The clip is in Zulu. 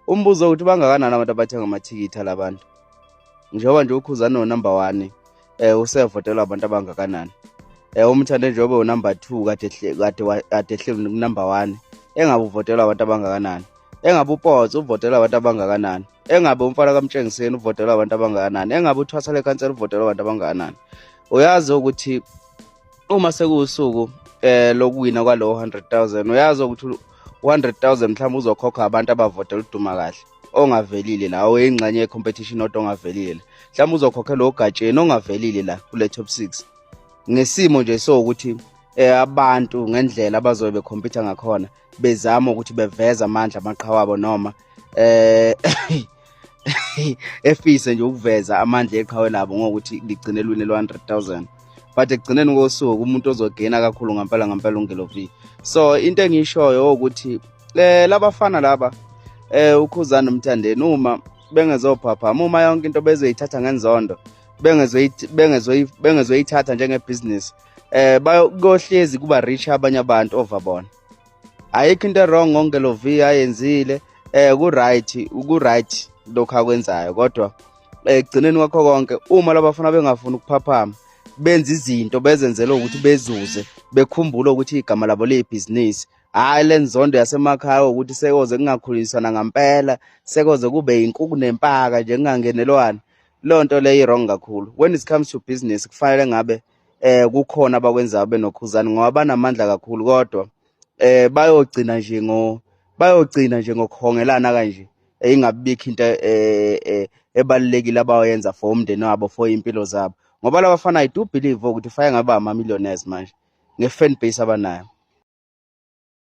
umbuzo ukuthi bangakanani abantu abathenga amathikithi alabantu njengoba nje ukhuzane unumber one um usevotela abantu abangakanani um umthande njengoba unumber two kade ehleli kunumber one engabe uvotela abantu abangakanani engabe upotso uvotela abantu abangakanani engabe umfana kamtshengiseni uvotela abantu abangakanani engabe uthwasa lekhansela uvotela abantu abangakanani uyazi ukuthi uma sekuwusuku eh lokuwina kwalowo 100000 uyazi ukuthi 100000 mhlawumbe uzokhokha abantu abavotela uduma kahle ongavelile la oyingxenye yecompetition odwa ongavelile mhlawumbe uzokhokhe lo gatsheni ongavelile la kule top 6 ngesimo nje so ukuthi eh abantu ngendlela abazobe becompete ngakhona bezama ukuthi beveza amandla amaqhawe abo noma eh efise nje ukuveza amandla eqhawe labo ngokuthi ligcine lwini lwe-100000 but ekugcineni kosuku umuntu ozogena kakhulu ngampela ngampela ungelovi so into engiyishoyo ukuthi eh labafana laba eh ukhuzana umthandeni uma bengezophaphama uma yonke into bezoyithatha ngenzondo bengezoyithatha njengebhizinisi eh bayohlezi kuba rich abanye abantu over bona ayikho into wrong ngonke lo V ayenzile eh ku right ku right lokho akwenzayo kodwa eh, ekugcineni kwakho konke uma labafuna bengafuni ukuphaphama benza izinto bezenzela ukuthi bezuze bekhumbule ukuthi igama labo liyibhizinisi hhayi le nzondo yasemakhaya ukuthi sekoze kungakhuliswana ngampela sekoze kube yinkuku nempaka nje kungangenelwani leyo nto leyo i-wrong kakhulu when it comes to business kufanele ngabe eh kukhona abakwenzayo benokhuzani ngoba banamandla kakhulu kodwa eh bayogcina nje ngo bayogcina nje ngokuhongelana kanje eh, ingabikho into eh, eh, ebalulekile abayenza for umndeni wabo for impilo zabo ngoba labafana i do believe ukuthi faya ngaba ama millionaires manje nge fan base abanayo